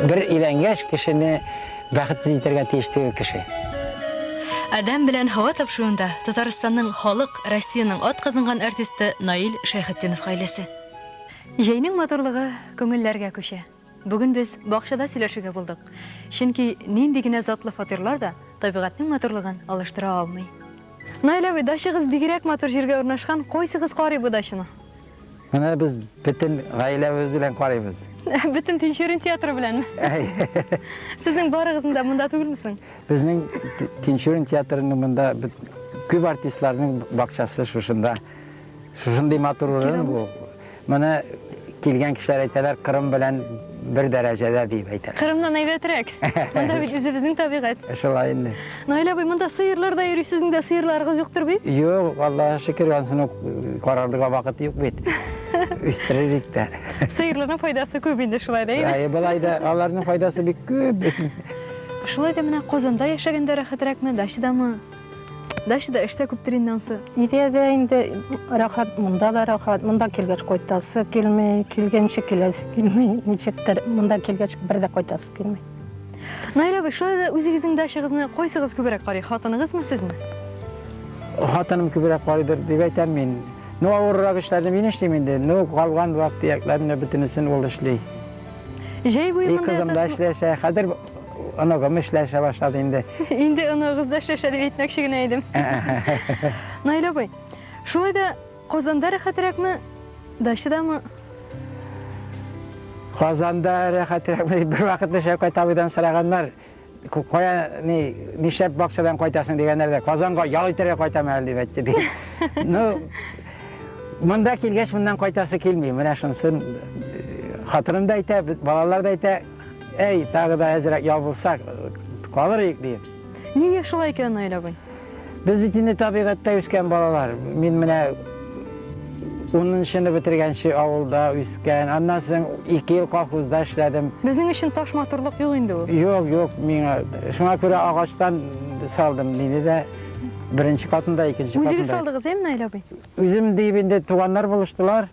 Бер иләнгәш кешене бәхетсез итәргә тиеш түгел кеше. Адәм белән һава тапшыруында Татарстанның халык, Россиянең ат казынган артисты Наил Шәйхетдинов гаиләсе. Җәйнең матурлыгы күңелләргә күчә. Бүген без бакчада сөйләшергә булдык, чөнки нинди генә затлы фатирлар да табигатьнең матурлыгын алыштыра алмый. Наил абый, дачагыз бигрәк матур җиргә урнашкан, кайсыгыз карый бу дачаны? Менә без бөтен гаиләбез белән карыйбыз. Бөтен Тинчурин театры беләнме? Сезнең барыгызның да монда түгелме соң? Безнең Тинчурин театрының монда күп артистларның бакчасы шушында. Шушындый матур урын бу. Моны килгән кешеләр әйтәләр, Кырым белән бер дәрәҗәдә дип әйтәләр. Кырымнан әйбәтрәк. Монда бит үзебезнең табигать. Шулай инде. Наил абый, монда сыерлар да йөри, сезнең дә сыерларыгыз юктыр бит? Юк, Аллага шөкер, ансын ук карарлыга вакыт юк бит. Үстерерик тә. Сыерларның файдасы күп инде шулай да. Әйе, былай да аларның файдасы бик күп. Шулай да менә Казанда яшәгәндә рәхәтрәкме, дачадамы? Дачада эш тә күптер инде ансы. Өйдә дә инде рәхәт, монда да рәхәт. Монда килгәч кайтасы килми, килгәнче киләсе килми. Ничектер, монда килгәч бер дә кайтасы килми. Наил абый, шулай да үзегезнең дачагызны кайсыгыз күбрәк карый, хатыныгызмы, сезме? Хатыным күбрәк карыйдыр дип әйтәм мин. Ну, авыррак эшләрне мин эшлим инде. Ну, калган вак-төякләрне бөтенесен ул эшли. Җәй буе монда ятасызмы? И кызым да эшләшә. Хәзер Оногым эшләшә башлады инде. Инде оныгыз да эшләшә дип әйтмәкче генә идем. Наил абый, шулай да Казанда рәхәтрәкме, дачадамы? Казанда рәхәтрәкме дип бервакыт Шәүкәт абыйдан сораганнар. Кая ни нишләп бакчадан кайтасың дигәннәр дә, Казанга ял итәргә кайтам әле дип әйтте ди. Ну, монда килгәч моннан кайтасы килми. Менә шунсын хатыным да әйтә, балалар да әйтә, Әй, тагы да әзрәк ябылсак, калыр идек, ди. Нигә шулай икән, Наил абый? Без бит инде табигатьтә үскән балалар. Мин менә унынчыны бетергәнче авылда үскән. Аннан соң ике ел колхозда эшләдем. Безнең өчен таш матурлык юк инде ул. Юк, юк, миңа. Шуңа күрә агачтан салдым, диде дә беренче катында, икенче катында. Үзегез салдыгыз, әйме, Наил абый? Үзем диеп инде туганнар булыштылар.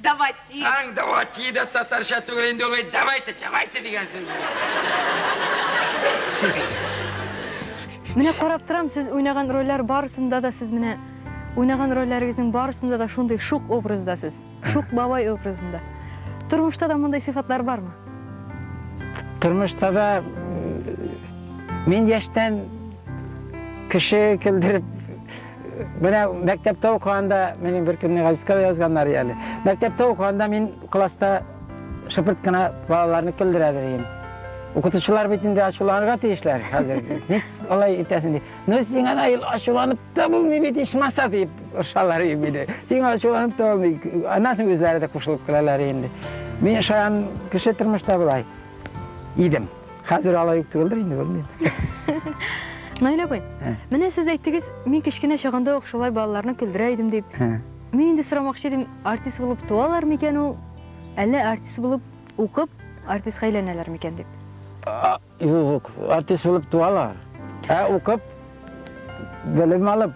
Давати. Аң давати да татарча түгел инде ул. Давайте, давайте дигән сүз. Менә карап торам, сез уйнаган рольләр барысында да сез менә уйнаган рольләрегезнең барысында да шундый шук образда сез. Шук бабай образында. Тормышта да мондый сыйфатлар бармы? Тормышта да мин яшьтән кеше килдереп Менә мәктәптә укыганда, минем бер көнне газетка язганнар әле. Мәктәптә укыганда мин класста шыпырт кына балаларны көлдерә белим. Укытучылар бит инде ачуланырга тиешләр хәзер. Ник алай итәсең дип. Ну син ана ел ачуланып та булмый бит ичмаса дип ошалар инде. Син ачуланып та булмый. Аннан үзләре дә кушылып калалар инде. Мин шаян кеше тормышта булай идем. Хәзер алай ук түгелдер инде, белмим. Наил абый, менә сез әйттегез, мин кечкенә чагында ук шулай балаларны көлдерә идем дип. Мин инде сорамакчы идем, артист булып туалар микән ул? Әллә артист булып укып, артистка әйләнәләр микән дип? Юк, артист булып туалар. Ә укып, белем алып,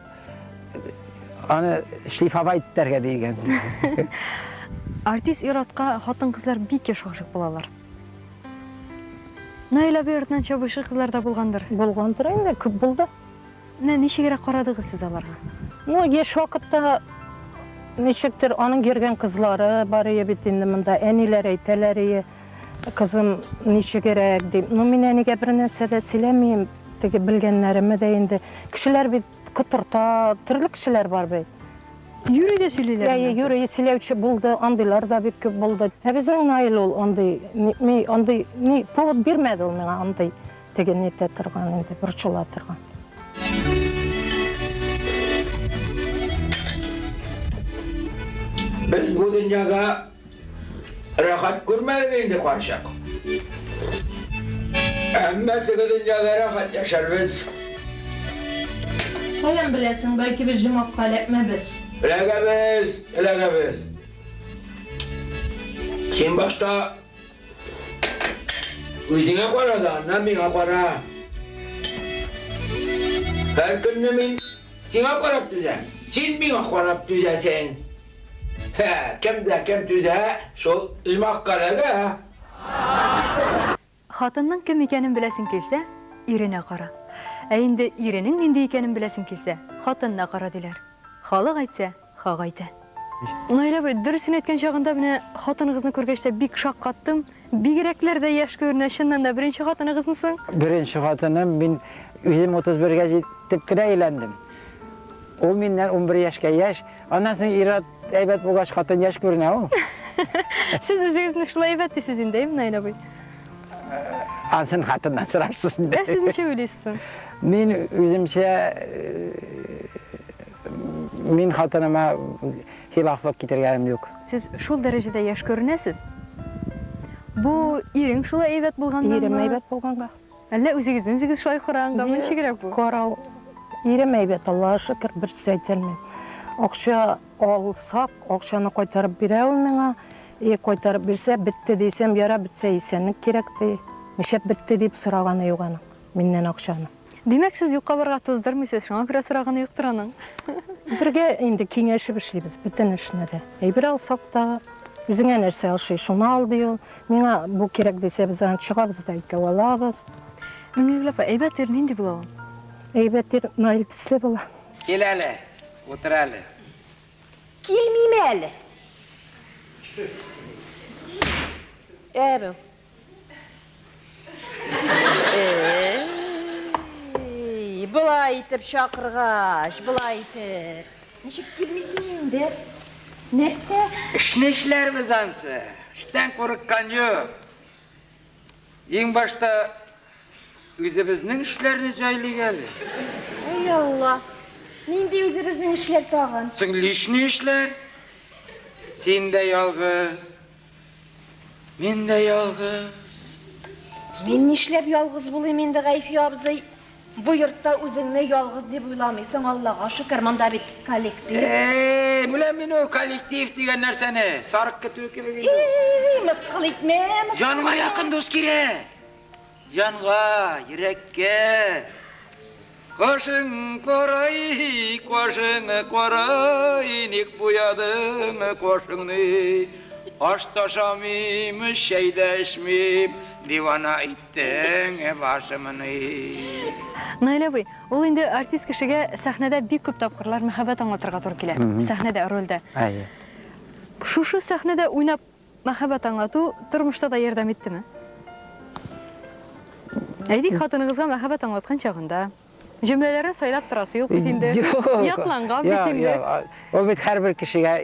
аны шлифовать итәргә дигән. Артист иратка хатын-кызлар бик еш гашык булалар. Наил абый артынан чабучы кызлар да булгандыр? Булгандыр инде, күп булды. Менә ничегрәк карадыгыз сез аларга? Ну, яшь вакытта ничектер аның йөргән кызлары бар ие бит инде монда. Әниләр әйтәләр ие, кызым ничегрәк дип. Ну, мин әнигә бер нәрсә дә сөйләмим, теге белгәннәремә дә инде. Кешеләр бит Котырта, төрле кешеләр бар бит. Юрий дә сөйлиләр. Әйе, моннан соң. юри сөйләүче булды, андыйлар да бик күп булды. Ә безнең Наил ул андый, ни- ми- андый, ни, повод бирмәде ул миңа андый теге ни итә торган инде, борчыла торган. Без бу дөньяга Рәхәт күрмәдек инде карчык. Әмма теге дөньяда рәхәт яшәрбез. Каян беләсең, бәлки без җомакка эләкмәбез. Эләгәбез, эләгәбез. Син башта үзеңә кара да, аннан миңа кара. Һәр көнне мин сиңа карап түзәм, син миңа карап түзәсең. Һә, кем дә кем түзә шул җмахка ләгә. Хатынның кем икәнен беләсең килсә, иренә кара. Ә инде иренең нинди икәнен беләсең килсә, хатынына кара, диләр. Халык әйтсә, хак әйтә. Наил абый, дөресен әйткән чагында менә хатыныгызны күргәч тә бик шаккаттым. Бигрәкләр дә яшь күренә, чыннан да беренче хатыныгызмы соң? Беренче хатыным, мин үзем 31 гә җитеп кенә өйләндем. Ул миннән 11 яшькә яшь. Аннан соң ир-ат әйбәт булгач, хатын яшь күренә ул. Сез үзегезне шулай әйбәт дисез инде, әйеме, Наил абый? Ансын хатыннан сорарсыз инде. Ә сез ничек уйлыйсыз соң? Мин үземчә мин хатыныма хилафлык китергәнем юк. Сез шул дәрәҗәдә яшь күренәсез. Бу ирең шулай әйбәт булганнанмы? Ирем әйбәт булганга. Әллә үзегезне үзегез шулай караганганмы? Ничегрәк бу? Карау. Ирем әйбәт, Аллага шөкер, бер сүз әйтә алмыйм. Акча алсак, акчаны кайтарып бирә ул миңа. И, кайтарып бирсә, бетте дисәм, ярар, бетсә исәнлек кирәк, ди. Нишләп бетте дип сораганы юк аның миннән акчаны. Димәк, сез юкка барырга туздырмыйсыз, шуңа күрә сораганы юктыр аның. Бергә инде киңәшеп эшлибез бөтен эшне дә. Әйбер алсак та, үзеңә нәрсә ошый, шуны ал, ди ул. Миңа бу кирәк дисә, без аны чыгабыз да икәү алабыз. Миңлегөл апа, әйбәт ир нинди була ул? Әйбәт ир Наил төсле була. Кил әле, утыр әле. Килмим әле. Ә бу. Былай итеп чакыргач, былай итеп. Ничек килмисең инде? Нәрсә? Эшне эшләрбез ансы. Эштән курыккан юк. Иң башта үзебезнең эшләрне җайлыйк әле. Ай Алла. Нинди үзебезнең эшләр тагын? Соң лишний эшләр. Син дә ялгыз. Мин дә ялгыз. Мин нишләп ялгыз булыйм инде, Гайфи абзый? Бу йортта үзеңне ялгыз дип уйламыйсың, Аллага шөкер, монда бит коллектив. Эй, беләм мин ул коллектив дигән нәрсәне. Сарык көтүе кебек инде. Эй, мыскыл итмә, мыскыл. Җанга якын дус кирәк. Җанга, йөрәккә кашың карай, кашың карай, ник буядың кашыңны? Аш та ашамыйм, чәй дә эчмим, дивана иттең башымны. Наилә абый, ул инде артист кешегә сәхнәдә бик күп тапкырлар мәхәббәт аңлатырга туры килә, сәхнәдә, рольдә. Әйе. Шушы сәхнәдә уйнап Мәхәббәт аңлату тормышта да ярдәм иттеме? Әйтик, хатыныгызга мәхәббәт аңлаткан чагында, җөмләләрне сайлап торасы юк бит инде, ятланган бит инде. Юк, юк, ул бит һәрбер кешегә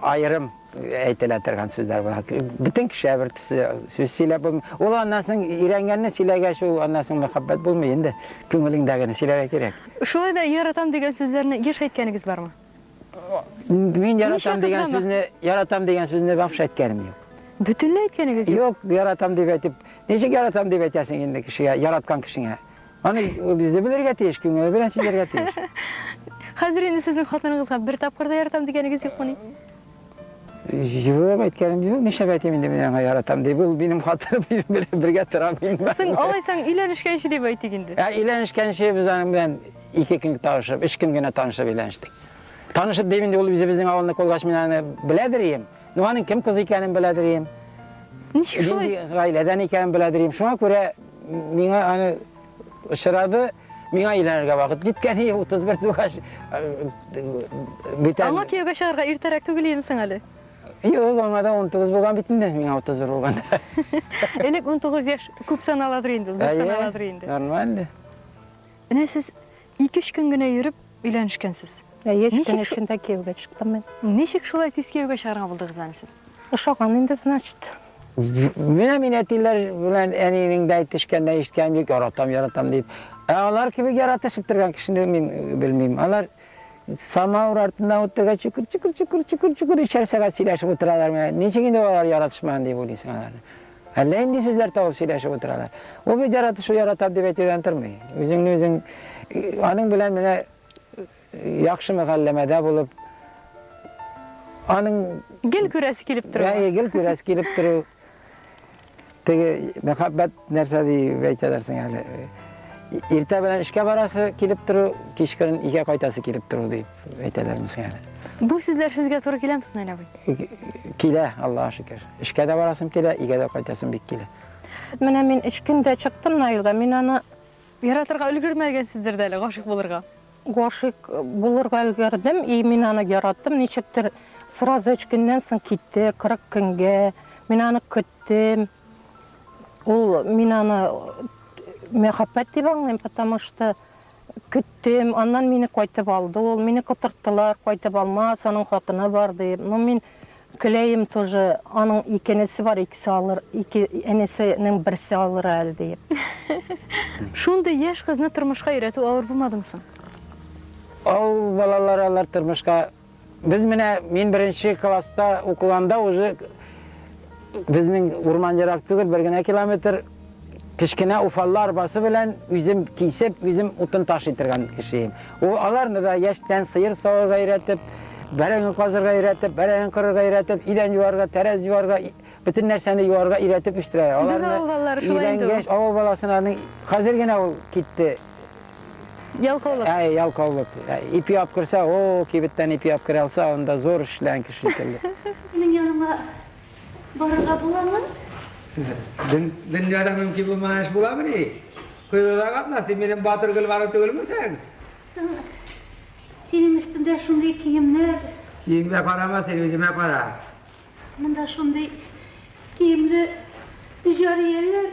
аерым әйтелә торган сүзләр була. Бөтен кешегә бер төсле сүз сөйләп булмый. Ул аннан соң өйрәнгәнне сөйләгәч, ул аннан соң мәхәббәт булмый инде. Күңелеңдәгене сөйләргә кирәк. Шулай да яратам дигән сүзләрне еш әйткәнегез бармы? Мин яратам дигән сүзне, яратам дигән сүзне вообще әйткәнем юк. Бөтенләй әйткәнегез юк? Юк, яратам дип әйтеп. Ничек яратам дип әйтәсең инде кешегә, яраткан кешеңә? Аны үзе белергә тиеш, күңеле белән сөйләргә тиеш. Хәзер инде сезнең хатыныгызга бер тапкыр да яратам дигәнегез юкмыни? Юк, әйткәнем юк, нишләп әйтим инде мин аңа яратам дип, ул минем хатыным, мин белән бергә тора бирмә. Соң, алайсаң, өйләнешкәнче дип әйтик инде. Ә, өйләнешкәнче без аның белән ике көн танышып, өч көн генә танышып өйләнештек. Танышып дим инде, ул үзебезнең авылны кулгач мин аны беләдер идем. Ну, аның кем кыз икәнен беләдер идем. Ничек шулай? Нинди гаиләдән икәнен беләдер идем. Шуңа күрә миңа аны очрады, миңа өйләнергә вакыт җиткән иде, 31 тугач. Бүтән. Аңа кияүгә чыгарга иртәрәк түгел инсең әле. Юк, аңа да 19 булган бит инде, миңа 31 булган. Элек 19 яшь күп саналадыр инде, зур саналадыр инде. Нормально. Менә сез Ике-өч көн генә йөреп өйләнешкәнсез. Әйе, өч көн эчендә кияүгә чыктым мин. Ничек шулай тиз кияүгә чыгарга булдыгыз әле сез? Ошаган инде, значит. Менә мин әтиләр белән әнинең дә әйтешкәннән ишеткәнем юк, яратам, яратам дип. Ә алар кебек яратышып торган кешене мин белмим. Алар самауыр артында утырга чукыр чукыр чукыр чукыр чукыр өчәр сәгать сөйләшеп утыралар менә ничек инде алар яратышмаган дип уйлыйсың аларны Әллә нинди сүзләр табып сөйләшеп утыралар. Ул бит яратышу яратам дип әйтүдән тормый. Үзеңне үзең аның белән менә яхшы мөгалләмәдә булып аның гел күрәсе килеп тору. Әйе, гел күрәсе килеп тору. Теге мәхәббәт нәрсә дип әйтәләр соң әле. Иртә белән эшкә барасы килеп тору, кичкырын өйгә кайтасы килеп тору дип. әйтәләр безгә әле. Бу сүзләр сезгә туры киләме, Снель абый? Килә, Аллаһ шөкер. Эшкә дә барасым килә, игә дә кайтасым бик килә. Менә мин өч көндә чыктым Наилга, мин аны яратырга өлгермәгәнсездер дә әле, гашык булырга. Гашык булырга өлгердем, и мин аны яраттым, ничектер сразу өч көннән соң китте, 40 көнгә. Мин аны көттем. Ул мин аны мәхәббәт дип аңлыйм, потому что Көттем, аннан мине кайтып алды ул, мине котырттылар, кайтып алмас, аның хатыны бар дип. Ну, мин көләем тоже, аның ике энесе бар, икесе алыр, ике энесенең берсе алыр әле дип. Шундый яшь кызны тормышка өйрәтү авыр булмадымы соң? Авыл балалары алар тормышка Без менә мин беренче класста укыганда уже безнең урман ерак түгел, бер генә километр кечкенә уфаллы арбасы белән үзем кисеп, үзем утын таш итергән кешеем. Ул аларны да яшьтән сыер савырга өйрәтеп, бәрәңге казырга өйрәтеп, бәрәңге кырырга өйрәтеп, идән юарга, тәрәз юарга, бөтен нәрсәне юарга өйрәтеп үстерә. Аларны Без авыл балалары шулай инде. Авыл баласының хәзер генә ул китте. Ялкаулык. Әй, ялкаулык. Ипи алып керсә, о, кибеттән ипи алып керә алса, анда зур эшләгән кеше шикелле. Синең яныңа барырга буламы? Дөньяда мөмкин булмаган эш буламыни? Коелуда катна, син минем батыр Гөлбану түгелмесең? Соң, синең өстеңдә шундый киемнәр. Киемгә карама, син үземә кара. Монда шундый киемле җарияләр.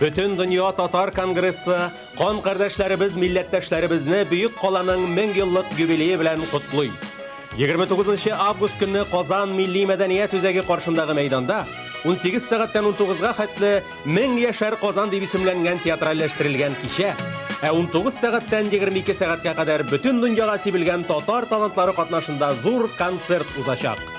Бөтендөнья татар конгрессы кан кардәшләребез, милләттәшләребезне Бөек каланың 1000 еллык юбилее белән котлый. 29 август көнне Казан милли мәдәният үзәге каршындагы мәйданда 18 сәгатьтән 19-га хәтле 1000 яшәр Казан дип исемләнгән театральләштерелгән кичә, ә 19 сәгатьтән 22 сәгатькә кадәр бөтен дөньяга сибелгән татар талантлары катнашында зур концерт узачак.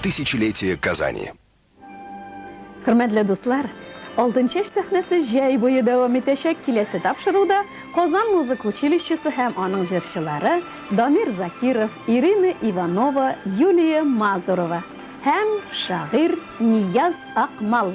Тысячелетие Казани. Хөрмәтле дуслар, Алтынчәч сәхнәсе җәй буе дәвам итәчәк, киләсе тапшыруда Казан музыка училищесы һәм аның җырчылары Дамир Закиров, Ирина Иванова, Юлия Мазурова һәм шагыйрь Нияз Акмал.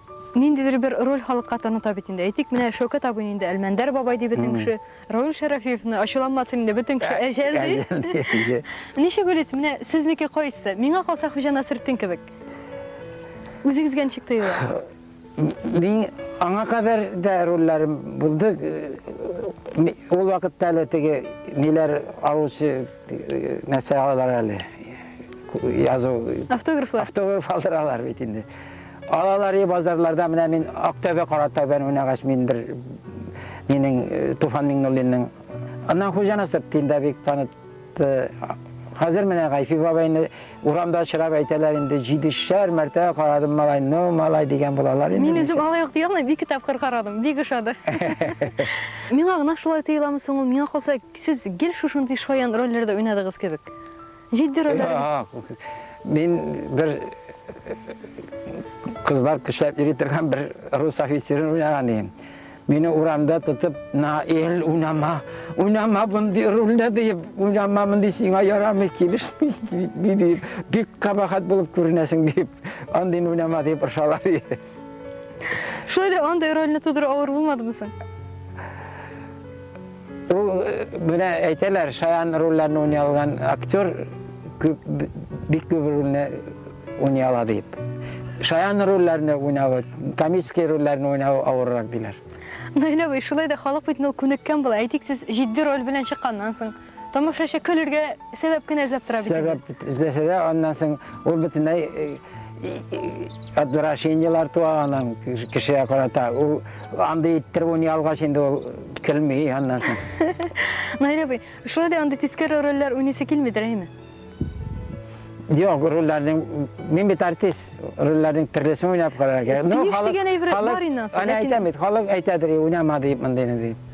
Ниндидер бер роль халыкка таныта бит инде. Әйтик, менә Шәүкәт абыйны инде Әлмәндәр бабай ди бөтен кеше. Равил Шәрәфиевны, ачуланмасын инде, бөтен кеше Әҗәл ди. Әҗәл ди, әйе. Ничек уйлыйсыз, менә сезнеке кайсы? Миңа калса, Хуҗа Насретдин кебек. Үзегезгә ничек тоела? Мин аңа кадәр дә рольләрем булды. Ул вакытта әле теге ниләр алучы нәрсә алалар әле. Язу. Автографлар. Автограф алдыралар бит инде. Алалари базарларда менә мин Актәбе Каратау белән уйнагач мин бер минең Туфан Миңнуллинның Аннан хуҗа насып дим дә бик танып Э, хәзер менә Гайфи бабайны урамда очрап әйтәләр инде җидешәр мәртә карадым малай, ну малай дигән булалар инде. Мин үзем алай ук ди алмыйм, ике тапкыр карадым, бик ошады. Миңа гына шулай тоеламы соң ул, миңа калса, сез гел шушындый шаян рольләрдә уйнадыгыз кебек. Җитди рольләрегез? Мин бер кызлар көчләп йөри торган бер рус офицерын уйнаган идем. Мине урамда тотып, Наил, уйнама, уйнама мондый рольне диеп, уйнама мондый сиңа ярамый, килешми диеп, бик кабахат булып күренәсең диеп, андый уйнама диеп ыршалар иде. Шулай да андый рольне тудыру авыр булмадымы соң? Ул, менә әйтәләр, шаян рольләрне уйный алган актер күп, бик күп рольне уйный ала дип. Шаян рольләрне уйнавы, комический рольләрне уйнавы авыррак диләр. Наил абый, шулай да халык бит ул күнеккән була. Әйтик, сез җитди роль белән чыкканнан соң, тамашачы көлергә сәбәп кенә эзләп тора бит. Сәбәп эзләсә дә, аннан соң ул бөтенләй отвращениеләр туа аның кешегә карата. Ул Андый иттереп уйный алгач инде ул көлми аннан соң. Наил абый, шулай да андый тискәре рольләр уйныйсы килмидер, әйме? Юк, рольләрнең мин бит артист, рольләрнең төрлесен уйнап карарга. Ну, халык дигән әйбер бар инде ансы. Аны әйтәм бит, халык әйтәдер, уйнама дип мондыйны дип.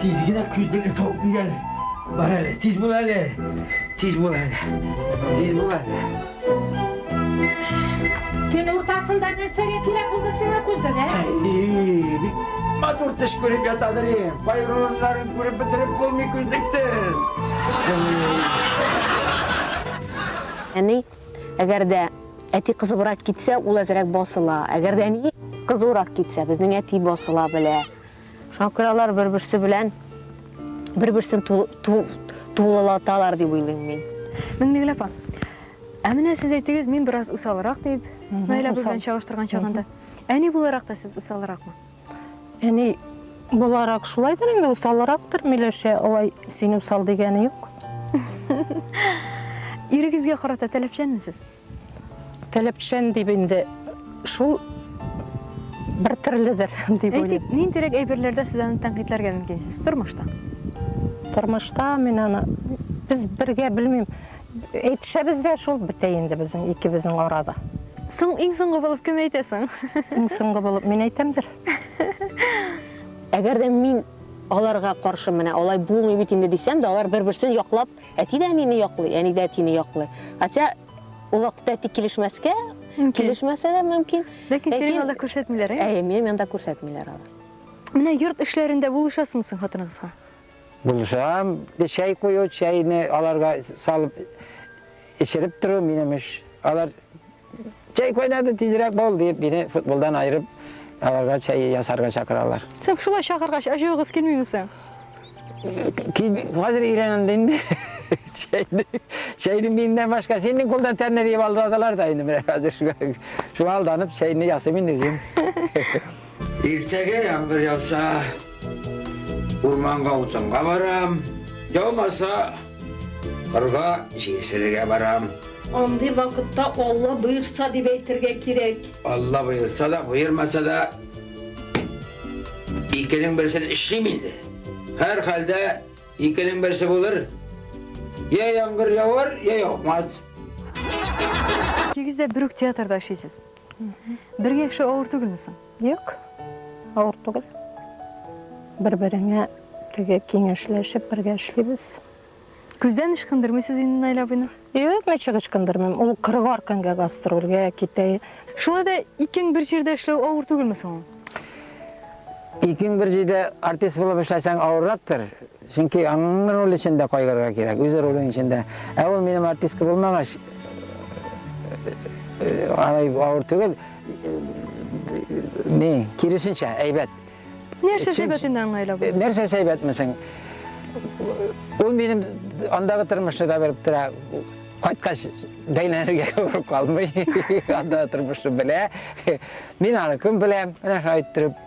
Тиз генә күздәле тавык дигән. Бар әле, тиз бул әле. Тиз бул әле. Тиз бул әле. Төн уртасында нәрсәгә кирәк булды сиңа күздәле? Әй, бик матур төш күреп ятадыр ем. Байруларын күреп бетереп булмый күздексез. Әни, әгәр дә әти кызыбрак китсә, ул әзрәк басыла. Әгәр дә әни кызурак китсә, безнең әти басыла белә. Шуңа күрә алар бер-берсе белән бер-берсен тулылаталар дип уйлыйм мин. Миңнегөл апа, ә менә сез әйтегез, мин бераз усалрак дип, Наилә апа белән чагыштырган чагында. Әни буларак та сез усалракмы? Әни буларак шулайдыр инде, усалрактыр, Миләшә, алай син усал дигәне юк. Ирегезгә карата таләпчәнме сез? Таләпчән дип инде шул бер төрледер дип уйлыйм. Әйтик, ниндирәк әйберләрдә сез аны тәнкыйтьләргә мөмкинсез тормышта? Тормышта мин аны без бергә белмим. Әйтешәбез дә шул бетә инде безнең икебезнең арада. Соң иң соңгы булып кем әйтә соң? Иң соңгы булып мин әйтәмдер. Әгәр дә мин аларга каршы менә алай булмый бит инде дисәм дә, алар бер-берсен яклап Әти дә әнине яклый, әни дә әтине яклый. Хотя ул вакытта әти килешмәскә, килешмәсә дә мөмкин. Ләкин синең янда күрсәтмиләр, ә? Әйе, минем янда күрсәтмиләр алар. Менә йорт эшләрендә булышасыңмы соң хатыныгызга? Булышам. Чәй кую, чәйне аларга салып эчереп тору минем эш. Алар Чәй кайнады, тизрәк бул, дип, мине футболдан аерып, аларга чәй ясарга чакыралар. Сез шулай чакыргач, ачуыгыз килмиме соң? Хәзер өйрәнәм дә инде. Чәйне, чәйне миннән башка синең кулдан тәмле дип алдадылар да инде менә хәзер шуңа алданып чәйне ясыйм инде үзем. Иртәгә яңгыр яуса, урманга утынга барам. Яумаса, кырга җилсерергә барам. Андый вакытта Алла боерса дип әйтергә кирәк. Алла боерса да, боермаса да, икенең берсен эшлим инде. Һәрхәлдә икенең берсе булыр. Йә яңгыр явар, йә яумас. Икегез дә бер үк театрда эшлисез. Бергә яшәү авыр түгелме соң? Юк, авыр түгел. Бер-береңә теге киңәшләшеп бергә эшлибез. Күздән ычкындырмыйсыз инде Наил абыйны? Юк, ничек ычкындырмыйм. Ул кырыгар көнгә гастрольгә китә. Шулай да икең бер җирдә эшләү авыр түгелме соң? Икең бер җирдә артист булып эшләсәң авыррактыр. Чөнки аның роле өчен дә кайгырырга кирәк, үз ролең өчен дә. Ә ул минем артистка булмагач, алай авыр түгел. Ни, киресенчә, әйбәт. Нәрсә әйбәт инде аңа әйләп? Нәрсә әйбәтмесең? Ул минем андагы тормышны да белеп тора. Кайткач, бәйләнергә күп калмый. Анда тормышны белә. Мин аны көн беләм, менә шулай иттереп.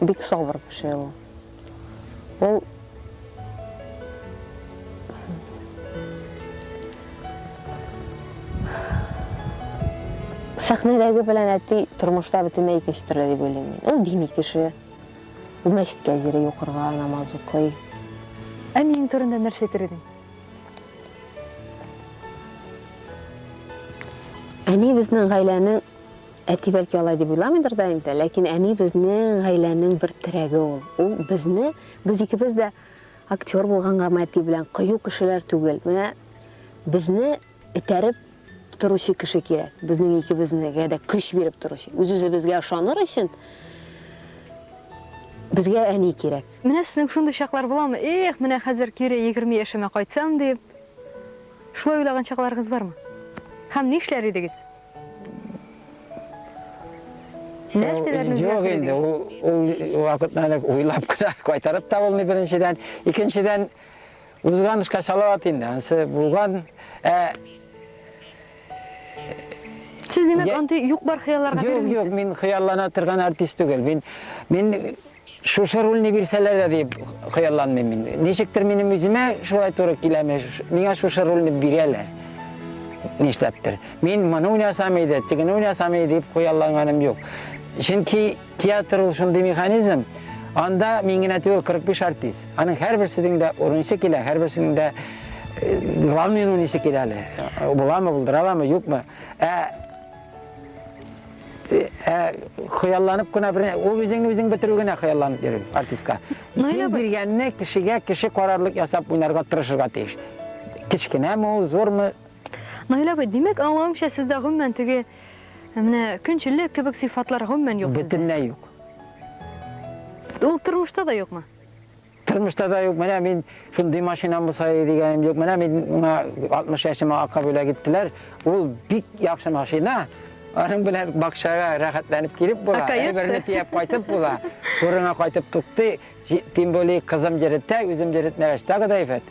бик сабыр кеше ул. Ул сәхнәдәге белән әти тормышта бөтенләй икенче төрле дип уйлыйм мин. Ул дини кеше. Ул мәчеткә йөри, укырга намаз укый. Әниең турында нәрсә әйтер идең? Әни безнең гаиләнең Әти бәлки алай дип уйламыйдыр да инде, ләкин әни безнең гаиләнең бер терәге ул. Ул безне, без икебез дә актер булгангамы әти белән, кыю кешеләр түгел. Менә безне этәреп торучы кеше кирәк, безнең икебезгә дә көч биреп торучы. Үз-үзебезгә ышаныр өчен безгә әни кирәк. Менә сезнең шундый чаклар буламы, эх, менә хәзер кире егерме яшемә кайтсам дип, шулай уйлаган чакларыгыз бармы? Һәм нишләр идегез? Нәрсәләрне Юк инде, ул вакытны әле уйлап кына кайтарып та булмый беренчедән. Икенчедән, узган эшкә салават инде, ансы булган. Ә Сез димәк, андый юк-бар хыялларга бирелмисез? Юк, юк, мин хыяллана торган артист түгел. Мин мин Шушы рульне бирсәләр дә дип хыялланмыйм мин. Ничектер минем үземә шулай туры киләме, миңа шушы рульне бирәләр. Нишләптер. Мин моны уйнасам иде, тегене уйнасам иде дип хыялланганым юк. Чөнки театр ул шундый механизм, анда мин генә түгел 45 артист. Аның һәрберсенең дә урынчы килә, һәрберсенең дә главный уйныйсы килә әле. Буламы, булдыра аламы, юкмы? Ә хыялланып кына бер ул үзеңне үзең бетерү генә хыялланып йөрү артистка исем биргәнне кешегә кеше карарлык ясап уйнарга тырышырга тиеш кечкенәме ул зурмы наил абый димәк аңлавымча сездә гомумән теге менә көнчеллек кебек сыйфатлар гомумән юк бөтенләй юк ул тормышта да юкмы Тормышта да юк, менә мин шундый машинам булса иде дигәнем юк. Менә мин миңа 60 яшемә ака бүләк иттеләр. Ул бик яхшы машина. Аның белән бакчага рәхәтләнеп килеп була, әйберне төяп кайтып була. Турыңа кайтып туктый, тем более кызым йөретә, үзем йөретмәгәч тагы да әйбәт.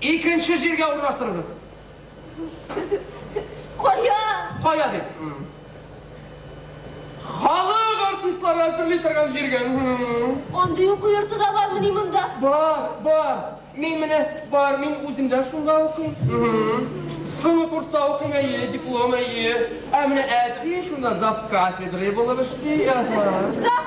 Икенче җиргә урнаштырыгыз. Кая? Кая дип. Халык артистлары әзерли торган җиргә. Андый уку йорты да бармыни монда? Бар, бар. Мин менә бар, мин үзем дә шунда укыйм. Соңгы курста укыйм, әйе, диплом, әйе. Ә менә әти шунда зав кафедрой булып эшли. Зав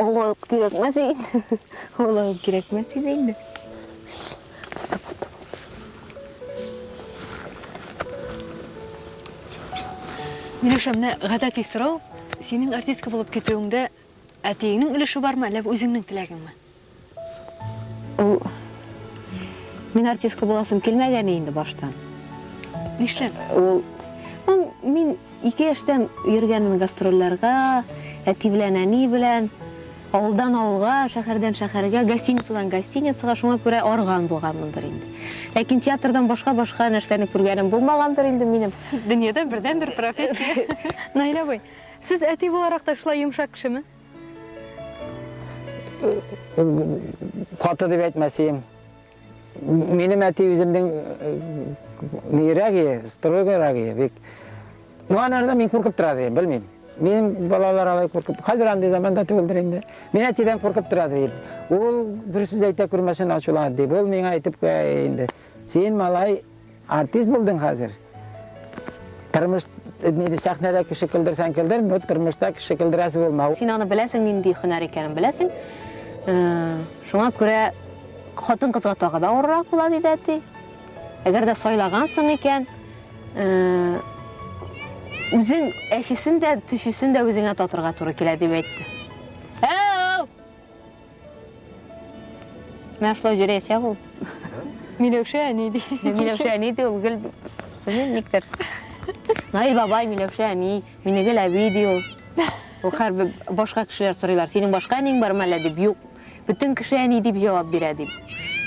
Олы кирәкмәс инде. Олы кирәкмәс иде инде. Миләүшә, менә гадәти сорау, синең артистка булып китүеңдә әтиеңнең өлеше бармы, әллә бу үзеңнең теләгеңме? Ул мин артистка буласым килмәгәне инде баштан. Нишләп? Ул ну, мин ике яшьтән йөргәнмен гастрольләргә, әти белән, әни белән, авылдан авылга, шәһәрдән шәһәргә, гостиницадан гостиницага, шуңа күрә арган булганмындыр инде. Ләкин театрдан башка-башка нәрсәне күргәнем булмагандыр инде минем. Дөньяда бердән-бер профессия. Наилә абый, сез әти буларак та шулай йомшак кешеме? Каты дип әйтмәсем. Минем әти үземнең нирәге, строгерәге бик. Ну анарда мин куркып тора ди, белмим. Минем балалар алай куркып. Хәзер андый заманда түгелдер инде. Мин әтидән куркып тора ди. Ул дөрес сүз әйтә күрмәсен ачуланып ди. Ул миңа әйтеп куя инде. Син малай Артист булдың хәзер. Тормыш нидә сәхнәдә кеше килдерсәң килдер, но тормышта кеше килдерәсе булмау. Син аны беләсең, нинди һөнәр икәнен беләсең. Э, шуңа күрә хатын кызга тагы да авыррак була диде әти. Әгәр дә сайлагансың икән, э, үзең әчесен дә, төчесен дә үзеңә татырга туры килә дип әйтте. Менә шулай җөрәячәк ул. Миләүшә әни ди. Миләүшә әни ди ул гел белмим никтер. Наил бабай, Миләүшә әни, Минегел әби ди ул. Ул хәрбер башка кешеләр сорыйлар, синең башка әниң бармы әллә дип, юк. Бөтен кеше әни дип җавап бирә дип.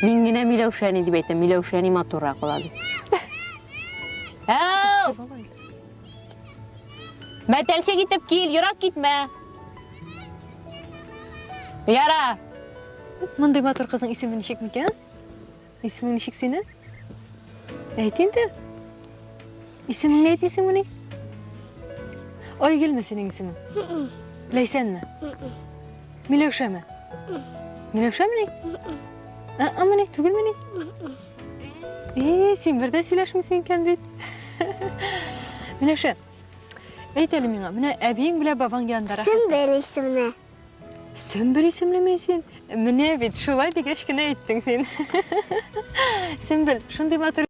Мин генә Миләүшә әни дип әйтәм, Миләүшә әни матуррак була дип. Әу! Мәтәлчек итеп кил, ерак китмә. Яра. Мондый матур кызның исеме ничек микән? Исемең ничек синең? Әйт инде. Исемеңне әйтмисеңмени? Айгөлме синең исемең? Ләйсәнме? Миләүшәме? Миләүшәмени? Ә-ә, мени, түгелмени? Эй, син бер дә сөйләшмисең икән бит. Миләшә, әйт әле миңа, менә әбиең белән бабаң янында рәхәт. Сөмбел исемле. Сөмбел исемлеме син? Менә бит, шулай дигәч кенә әйттең син. Сөмбел, шундый матур